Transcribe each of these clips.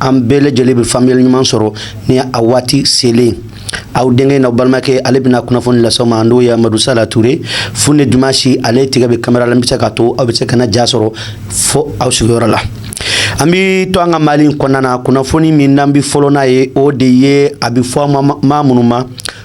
an bɛɛ lajɛlen bɛ faamuya ɲuman sɔrɔ ni a waati selen aw denkɛ n'aw balimakɛ ale bɛna kunnafoni lase aw ma n'o ye amadu sala ture fu ni dimansi ale tigɛ bɛ kamera la bɛ se ka to aw bɛ se k'an ja sɔrɔ fo aw sigiyɔrɔ la an bɛ to an ka mali kɔnɔna na kunnafoni min n'an bɛ fɔlɔ n'a ye o de ye a bɛ fɔ maa minnu ma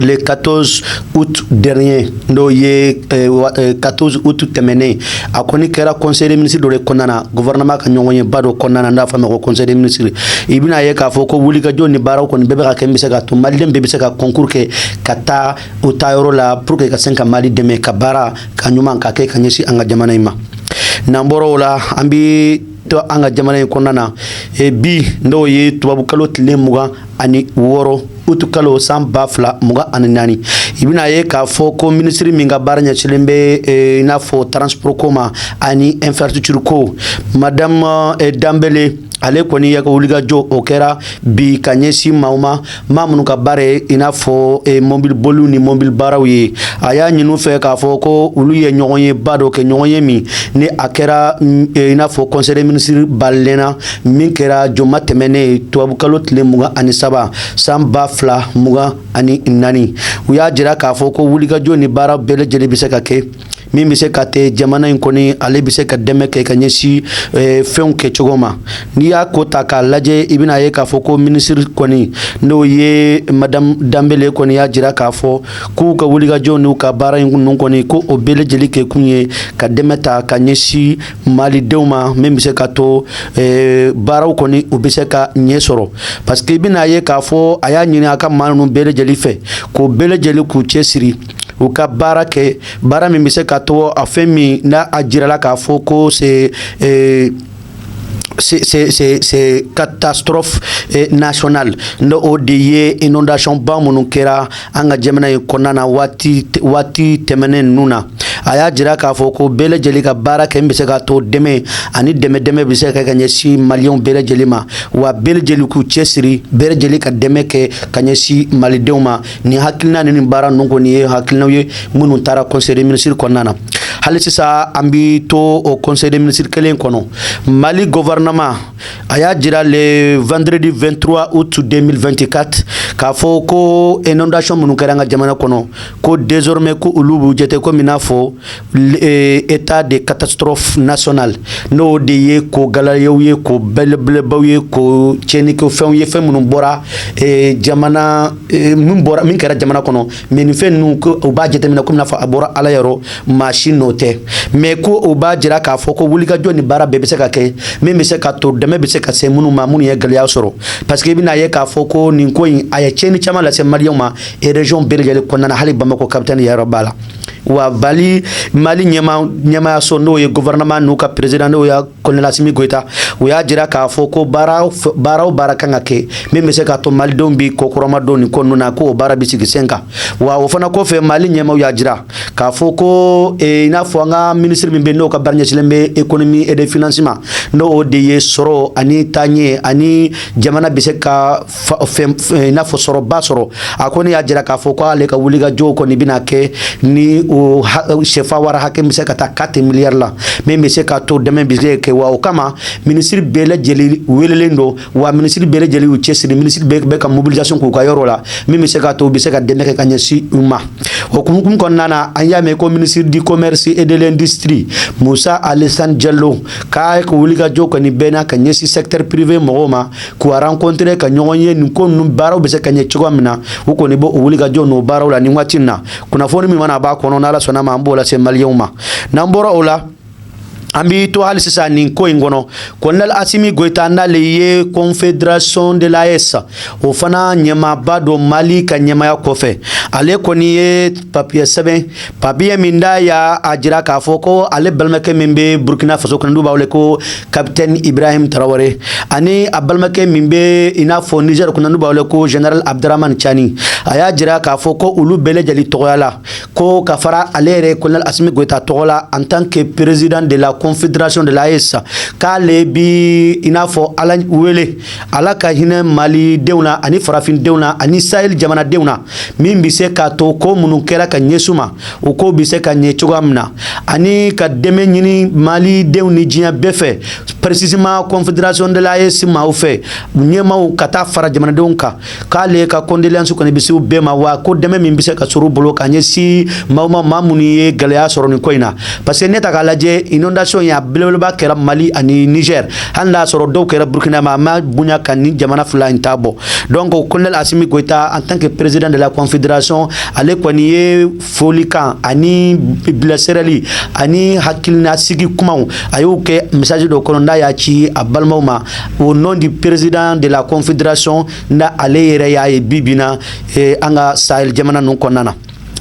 le 14 août dernier n'o ye 14 eh, eh, août tɛmɛnen a kɔni kɛra conseil des ministres dɔ de kɔnɔna na gouvernement ka ɲɔgɔn ye ba dɔ kɔnɔna na n'a fɔ ma ko conseil des ministres i bɛna ye k'a fɔ ko wulikajɔ ni baaraw kɔni bɛɛ bɛ ka kɛ bɛ se ka to maliden bɛɛ bɛ se ka concours kɛ ka taa u taa yɔrɔ la pour que ka se ka mali dɛmɛ ka baara ka ɲuman ka kɛ ka ɲɛsin an ka jamana in ma n'an bɔra o la an bɛ to an ka jamana in kɔnɔna na e bi n'o ye tubabukalo tile mugan ani wɔɔrɔ utu kalo san ba fila mugan ani naani i bɛna ye k'a fɔ ko minisiri min ka baara ɲɛsilen bɛ e, i n'a fɔ transport ko ma ani infrastructure ko madame e, danbele ale kɔni a ka wulikajɔ o kɛra bi ka ɲɛsin maaw ma maa minnu ka baara ye i n'a fɔ e, mobili boliw ni mobili baaraw ye a y'a ɲin'u fɛ k'a fɔ ko olu ye ɲɔgɔn ye ba dɔ kɛ ɲɔgɔn ye min ni a kɛra mm, e, i n'a fɔ conseil des ministres balalen na min kɛra juma tɛmɛnen ye tubabukalo tile mugan ani saba san ba fila mugan ani naani u y'a jira k'a fɔ ko wulikajɔ ni baara bɛɛ lajɛlen bɛ se ka kɛ min bɛ se ka to jamana in kɔni ale bɛ se ka dɛmɛ kɛ ka ɲɛsin eh, fɛnw kɛ cogo ma n'i y'a ko ta k'a lajɛ i bɛna ye k'a fɔ ko minisiri kɔni n'o ye madamu danbele kɔni y'a jira k'a fɔ k'u ka wulikajɔ n'u ka baara in ninnu kɔni ko o bɛɛ lajɛlen kɛ kun ye ka dɛmɛ ta ka ɲɛsin malidenw ma min bɛ se ka to eh, baaraw kɔni u bɛ se ka ɲɛ sɔrɔ parce que i bɛna ye k'a fɔ a y'a ɲini a ka maa ninnu bɛɛ lajɛlen fɛ ko bɛɛ lajɛlen k'u cɛsiri u ka baara kɛ baara min bɛ se ka to a fɛn min n'a a jirala k'a fɔ ko c'est catastrophe eh, nationale n'o o de ye inondation ba minnu kɛra an ka jamana in kɔnɔna na waati tɛmɛnen ninnu na a y'a jira k'a fɔ ko bɛɛ lajɛlen ka baara kɛ min bɛ se ka to dɛmɛ ani dɛmɛ dɛmɛ bɛ se ka kɛ ka ɲɛsin maliyɛnw bɛɛ lajɛlen ma wa bɛɛ lajɛlen k'u cɛsiri bɛɛ lajɛlen ka dɛmɛ kɛ ka ɲɛsin malidenw ma nin hakilina ni nin baara ninnu kɔni ye hakilinaw ye minnu taara conseil des ministres kɔnɔna na hali sisan an bi to o conseil des ministres kelen kɔnɔ mali gouvernement a y'a jira le vendredi 23 août 2024 k'a fɔ ko inondation minnu kɛra an ka jamana kɔnɔ ko désormais ko olu b'u jate komi n'a fɔ e, état de catastrophe nationale n'o de ye ko gɛlɛyaw ye ko belebelebaw ye ko tiɲɛnikɛfɛnw ye fɛn minnu bɔra e, jamana min bɔra min kɛra jamana kɔnɔ mais nin fɛn ninnu ko u b'a jateminɛ komi n'a fɔ a bɔra ala yɔrɔ maa si nɔ tɛ mais ko o b'a jira k'a fɔ ko wulikajɔ ni baara bɛɛ bɛ se ka kɛ min bɛ se ka to dɛmɛ bɛ se ka se minnu ma minnu ye gɛlɛya sɔrɔ parce que i bɛna ye k'a fɔ ko nin ko in a ye tiɲɛni caman lase maliyɛnw ma région bɛɛ lajɛlen kɔnɔna na hali bamakɔ kapitali yɛrɛ b'a la wa mali ɲɛmaayaso n'o ye gouvernement n'u ka président n'o ye colonel asimi goyita u y'a jira k'a fɔ ko baara o baara kan ka kɛ min bɛ se k'a to malidenw bɛ kɔkɔrɔmadon nin ko ninnu na k'o baara bɛ sigi sen kan wa o fana kɔfɛ mali ɲɛmaaw y'a jira k'a fɔ ko i n'a fɔ an ka minisiri min bɛ n'o ka baara ɲɛsinnen bɛ économie et des finances ma n'o de ye sɔrɔ ani taaɲɛ ani jamana bɛ se ka n'a fɔ sɔrɔba sɔrɔ a kɔni y'a jira k'a fɔ k'ale ka wulikajɔ kɔni bɛna kɛ ni o sɛfawari hakɛ bɛ se ka taa quatre milliards la min bɛ se k'a to dɛmɛ bɛ se kɛ wa o kama minisiri bɛɛ lajɛlen welelen don wa minisiri bɛɛ lajɛlen y'u cɛsiri minisiri bɛɛ bɛ ka mobilisation k'u ka yɔrɔ la min bɛ se k'a to u bɛ se ka dɛmɛ kɛ ka ɲɛsin u ma o hukumu kɔnɔna na an y'a mɛn ko ministre du commerce et de l'industrie Musa Alasani Jalo k'a ka wulikajɔ kɔni bɛ na ka ɲɛsin secteur privé mɔgɔw ma k'u rencontrer ka ɲɔgɔn ye nin ko ninnu baaraw bɛ se ka ɲɛ cogoya min na u kɔni b'o wulikajɔ n'o baaraw la nin waati in na kunnafoni min mana bɔ a kɔnɔ n'ala sɔnna ma an b'o lase maliyɛnw ma n'an bɔra o la an b'i to hali sisan nin ko in kɔnɔ colonel asimi goyita n'ale ye confédération de l'AES o fana ɲɛmaaba don mali ka ɲɛmaaya kɔfɛ ale kɔni ye papiye sɛbɛn papiye min n'a y'a a jira k'a fɔ ko ale balimakɛ min bɛ burkina faso kɔnɔ n'u b'a wele ko capitaine ibrahim tarawele ani a balimakɛ min bɛ i n'a fɔ niger kɔnɔ n'u b'a wele ko général abdourahamane tiani a y'a jira k'a fɔ ko olu bɛɛ lajɛlen tɔgɔya la ko ka fara ale yɛrɛ colonel asimi goyita tɔgɔ la en tant que président de la confédération de l'AES k'ale bi i n'a fɔ ala wele ala ka hinɛ malidenw na ani farafindenw na ani sahel jamanadenw na min bɛ se k'a to ko minnu kɛra ka ɲɛsin u ma o ko bɛ se ka ɲɛ cogoya min na ani ka dɛmɛ ɲini malidenw ni diɲɛ bɛɛ fɛ précisément confédération de l'AES maaw fɛ ɲɛmaw ka taa fara jamanadenw kan k'ale ka condoléances kɔni bɛ se bɛɛ ma wa ko dɛmɛ min bɛ se ka sɔrɔ u bolo ka ɲɛsin maaw ma maa minnu ye gɛlɛya sɔrɔ nin ko in na parce que n'e ta k'a lajɛ inondation in a belebeleba kɛra mali ani nizɛri hali n'a sɔrɔ dɔw kɛra burukina mais a ma bonya ka nin jamana fila in ta bɔ donc colonel asimi goyita en tant que président de la confédération ale kɔni ye folikan ani bilasirali ani hakilinasigi kumaw a y'o kɛ message dɔ kɔnɔ n'a y'a ci a balimaw ma au nom du président de la confédération na ale yɛrɛ y'a ye bi bi na eh, an ka sahel jamana ninnu kɔnɔna na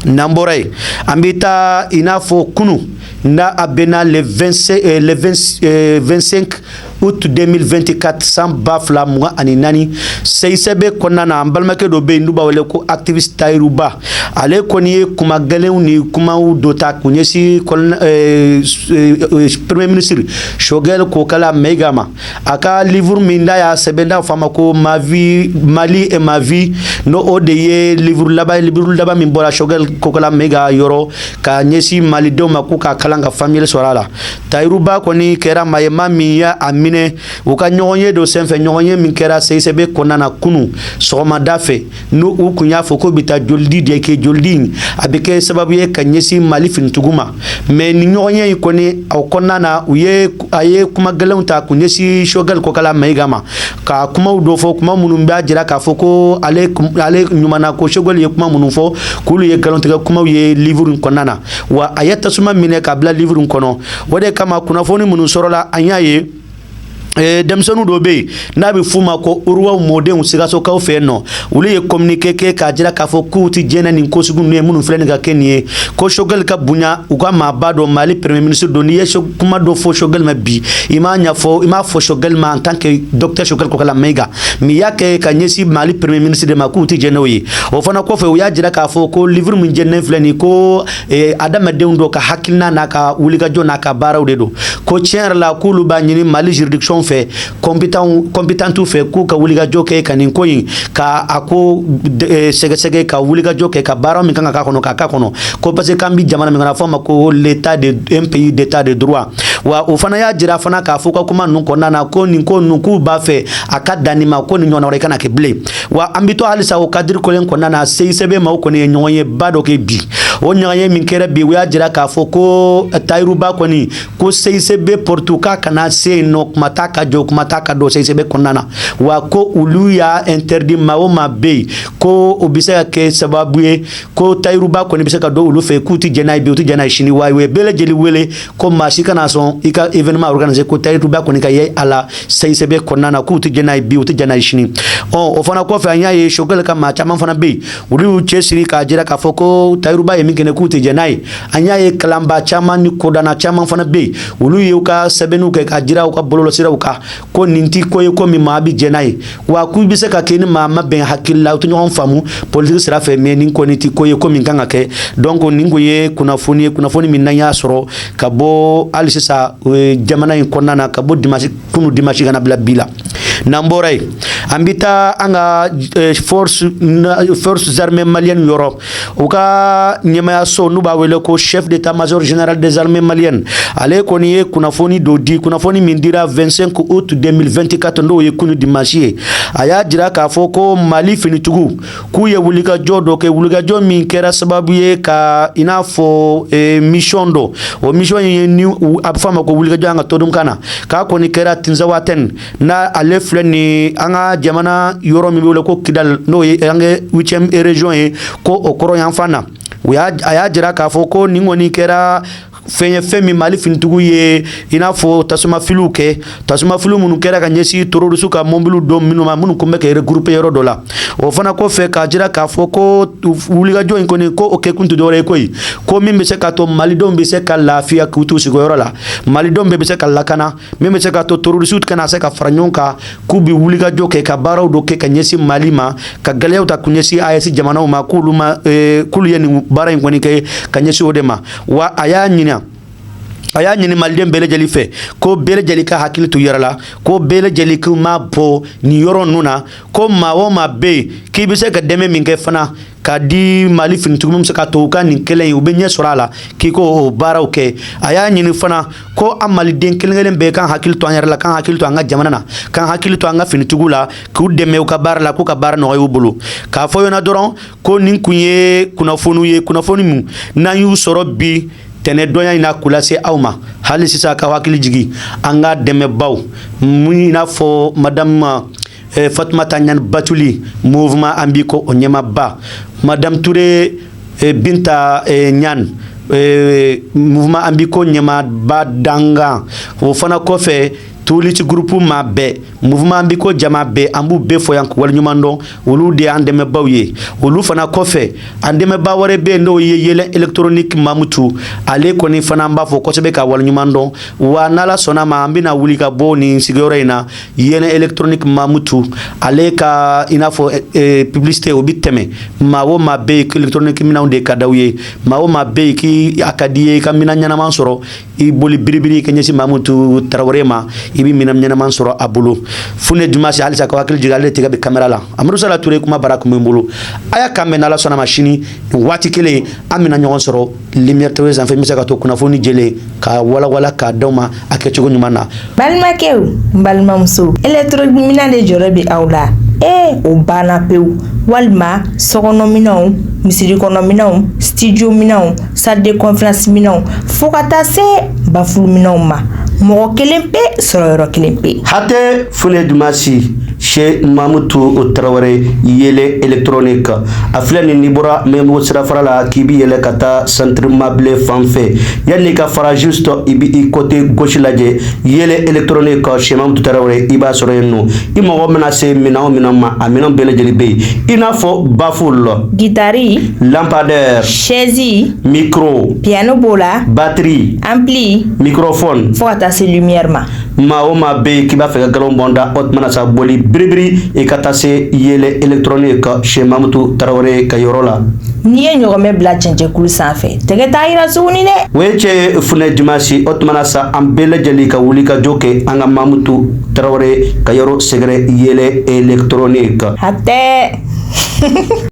n'an bɔra yen an bɛ taa i n'a fɔ kunu n'a a bɛnna le 25 eh, le 20 eh, 25 août 2024 san ba fila mugan ani naani seyisɛbe kɔnɔna na an balimakɛ dɔ bɛ yen n'u b'a wele ko activiste tayiruba ale kɔni ye kuma gɛlɛnw ni kumaw dɔ ta k'u ɲɛsin kɔnɔna eh, eh, premier ministre Choguel kokala mayiga ma a ka livre min n'a y'a sɛbɛn n'a fɔ a ma ko ma vie mali et ma vie n'o o de ye livre laban livre laban min bɔra Choguel kokala mayiga yɔrɔ ka ɲɛsin malidenw ma k'u k'a kalan ka faamuyali sɔrɔ a la tayiruba kɔni kɛra maa ye maa min y'a a minɛ u ka ɲɔgɔnye dɔ senfɛ ɲɔgɔnye min kɛra seyisɛbe kɔnɔna na kunu sɔgɔmada fɛ n'o u kun y'a fɔ k'u bɛ taa jolidi de kɛ jolidi in a bɛ kɛ sababu ye ka ɲɛsin mali finitigiw ma mɛ nin ɲɔgɔnye in kɔni aw kɔnɔna na u ye a ye kuma gɛlɛnw ta k'u ɲɛsin Choguel kokala mayiga ma ka kumaw dɔ fɔ kuma minnu b'a jira k'a fɔ ko ale ale ɲumanna ko Choguel ye kuma minnu fɔ k'olu ye nkalontigɛ kumaw ye livuru in kɔnɔna na wa a ye tasuma minɛ k'a bila livuru in kɔnɔ o de kama kunnafoni minnu sɔrɔla an y'a ye Eh, denmisɛnw dɔ bɛ yen n'a bɛ f'u ma ko uruwaw mɔdenw sikasokaw fɛ yen nɔ olu ye communiqué kɛ k'a jira k'a fɔ k'u tɛ jɛn ni nin ko sugu ninnu ye minnu filɛ nin ka kɛ nin ye ko Choguel ka bonya u ka maaba don Mali premier ministre don n'i ye kuma dɔ fɔ Choguel ma bi i m'a ɲɛfɔ i m'a fɔ Choguel ma en tant que docteur Choguel Kokala Mayiga mais i y'a kɛ ka ɲɛsin Mali premier ministre de ma k'u tɛ jɛn n'o ye o fana kɔfɛ u y'a jira k'a fɔ ko livre min jeninen filɛ nin ye ko e, adamaden dɔ ka hakilina n'a ka wulikajɔ n'a ka baaraw de don ko tiɲɛ yɛrɛ la k'olu b'a ɲini mali juridiction fɛ compétent fɛ k'u ka wulikajɔ kɛ ka nin ko in ka a ko e, sɛgɛsɛgɛ ka wulikajɔ kɛ ka baara min kan ka k'a kɔnɔ k'a k'a kɔnɔ ko parce que k'an bi jamana min kan n'a fɔ a ma ko l'état de un pays d'état de droit wa o fana y'a jira fana k'a fɔ u ka kuma ninnu kɔnɔna na ko nin ko ninnu k'u b'a fɛ a ka dan nin ma ko nin ɲɔgɔnna wɛrɛ kana kɛ bilen wa an bɛ to halisa o kadiri kelen kɔnɔna na seyisɛbe maaw kɔni ye ɲɔgɔnyeba dɔ kɛ bi o ɲɔgɔnye min kɛra bi u y'a jira k'a fɔ ko tayiruba kɔni ko seyisɛbe pɔritu k'a kana se yen nɔ kuma t'a ka jɔ kuma t'a ka don seyisɛbe kɔnɔna na wa ko olu y'a interdit maa o maa bɛ yen ko o bɛ se ka kɛ sababu ye ko tayiruba kɔni bɛ se ka don olu fɛ k'u tɛ jɛn n'a ye bi u tɛ jɛn n'a ye sini wa u ye bɛɛ lajɛlen wele ko maa si kana sɔn i ka événement organiser ko tayiruba kɔni ka ye a la seyisɛbe kɔnɔna na k'u tɛ jɛn n'a ye bi u tɛ jɛn n'a ye sini ɔ o fana kɔfɛ an y'a ye Choguel ka maa caman fana bɛ yen olu y'u cɛsiri k'a jira k'a fɔ ko tayiruba ye min kɛ nin k'u tɛ jɛn n'a ye an y'a ye kalanbaa caman ni kodɔnna caman fana bɛ yen olu y'u ka sɛbɛnniw kɛ k'a jira u ka bɔlɔlɔsiraw kan ko nin tɛ ko ye ko min maa bi jɛn n'a ye wa k'u bɛ se ka kɛ ni maa ma bɛn hakili la u tɛ ɲɔgɔn faamu politiki sira fɛ mɛ nin kɔni tɛ ko ye ko min kan ka kɛ donc nin ko ye kunnafoni ye kunnafoni min n'an y'a sɔrɔ ka bɔ hali sisan jamana in kɔnɔna na ka bɔ dimasi kunu dimasi ka na bila bi la n'an bɔra yen an bɛ taa an ka eh, force force armée malienne yɔrɔ U ka ɲɛmayaso n'u b'a wele ko chef d'état major général des armées maliennes ale kɔni ye kunnafoni dɔ di kunnafoni min dira 25 août 2024 n'o ye kunu dimanche ye a y'a jira k'a fɔ ko mali finitigiw k'u ye wulikajɔ dɔ kɛ wulikajɔ min kɛra sababu ye ka i n'a fɔ eh, mission dɔ o mission ye ni a bɛ fɔ a ma ko wulikajɔ an ka todunkan na k'a kɔni kɛra tinzawatɛni N ale filɛ ni an ka jamana yɔrɔ min wele ko kidal n'o ye an ka 8e région ye ko o kɔrɔn yanfan na o a y'a jira k'a fɔ ko nin kɔni kɛra fɛn ye fɛn min mali finitigiw ye i n'a fɔ tasumafiliw kɛ tasumafiliw minnu kɛra ka ɲɛsin terroriste ka mobiliw dɔ minnu ma minnu tun bɛ ka regrouper yɔrɔ dɔ la o fana kɔ fɛ k'a jira k'a fɔ ko wulikajɔ in kɔni ko o kɛkun tɛ dɔwɛrɛ ye koyi ko min bɛ se k'a to malidenw bɛ se ka lafiya k'u t'u sigiyɔrɔ la malidenw bɛɛ bɛ se ka lakana min bɛ se k'a to terroristew kana se ka fara ɲɔgɔn kan k'u bɛ wulikajɔ kɛ ka baaraw dɔ kɛ ka ɲɛsin mali ma ka gɛlɛyaw ta k'u ɲɛsin AES jamanaw ma k'olu ma eh, k'olu ye nin baara in kɔni kɛ ka ɲɛsin o de ma wa a y'a ɲinan a y'a ɲini maliden bɛɛ lajɛlen fɛ ko bɛɛ lajɛlen ka hakili to yɛrɛ la ko bɛɛ lajɛlen k'i mabɔ nin yɔrɔ ninnu na ko maa o maa bɛ yen k'i bɛ se ka dɛmɛ min kɛ fana k'a di mali finitigiw min bɛ se k'a to u ka nin kɛlɛ in u bɛ ɲɛ sɔrɔ a la k'i k'o baaraw kɛ a y'a ɲini fana ko an maliden kelen kelen bɛɛ k'an hakili to an yɛrɛ la k'an hakili to an ka jamana na k'an hakili to an ka finitigiw la k'u dɛmɛ u ka baara la k'u ka baara nɔgɔya u bolo k'a fɔ ɲɛna dɔrɔn ko nin kun ye kunnafoniw ye kunnafoni min n'an y'u sɔrɔ bi tɛnɛn donya in na k'u lase aw ma hali sisan k'aw hakili jigin an ka dɛmɛbaw mun i n'a fɔ madamu eh, fatumata ɲan batuli mouvement an b'i ko o ɲɛmaba madame ture eh, binta eh, ɲan eh, mouvement an b'i ko ɲɛmaba dankan o fana kɔfɛ touly's groupe maa bɛɛ mouvement an b'i ko jama bɛɛ an b'u bɛɛ fo yan k'u waleɲuman dɔn olu de y'an dɛmɛbaw ye olu fana kɔfɛ an dɛmɛba wɛrɛ bɛ yen n'o ye yeelen électronique mamutu ale kɔni fana an b'a fo kosɛbɛ k'a waleɲuman dɔn wa n'ala sɔnna ma an bɛna wuli ka bɔ nin sigiyɔrɔ in na yeelen electronique mamutu ale ka i n'a fɔ eh, eh, publicité o bi tɛmɛ maa o maa bɛ yen electronique minɛnw de ka d'aw ye maa o maa bɛ yen k'i a ka d'i ye i ka minɛn ɲɛnama sɔrɔ i boli biribiri ka ɲɛsin mamutu tarawele ma i bɛ minɛn ɲɛnama sɔrɔ a bolo fune dumasi halisa k'aw hakili jigin ale de tɛgɛ bɛ kamera la amadu sala ture kuma bara kun bɛ n bolo a y'a kan mɛn n'ala sɔnna ma sini nin waati kelen an bɛna ɲɔgɔn sɔrɔ lumière tv sanfɛ n bɛ se k'a to kunnafoni jɛlen ka walawala k'a d'aw ma a kɛcogo ɲuman na balimakɛw n balimamuso électronique minɛn de jɔrɔ bɛ aw la ee o banna pewu walima sokɔnɔminɛnw misiri kɔnɔminɛnw studio minɛnw salle de conférence minɛnw fo ka taa se bafulu minɛnw ma mɔgɔ kelen pe sɔrɔ yɔrɔ kelen pe hatɛ fune dumasi cheikh mamutu tarawele yɛlɛ électronique a filɛ nin n'i bɔra mɛbo sirafara la k'i bɛ yɛlɛ ka taa centre mabilé fan fɛ yanni i ka faraju sɔrɔ i bɛ i côté gauche lajɛ yɛlɛ électronique cheikh mamutu tarawele i b'a sɔrɔ yen nɔ i mago mana se minɛn min ma a minɛn bɛɛ lajɛlen bɛ yen i n'a fɔ baffle gitari lampadaire sɛzi micro piano b'o la batiri ampli microphone fo ka taa se lumière ma maa o maa bɛ yen k'i b'a fɛ ka nkalon bɔ n da o tuma na sa boli biribiri i ka taa se yɛlɛ électronique cheikh mamutu tarawele ka yɔrɔ la n'i ye ɲɔgɔmɛ bila cɛncɛnkulu sanfɛ tɛgɛ t'a yira tuguni dɛ o ye cɛ funɛ dimansi o tuma na sa an bɛɛ lajɛlen ka wuli ka jɔ kɛ an ka mamutu tarawele ka yɔrɔ sɛgɛrɛ yɛlɛ électronique hatɛ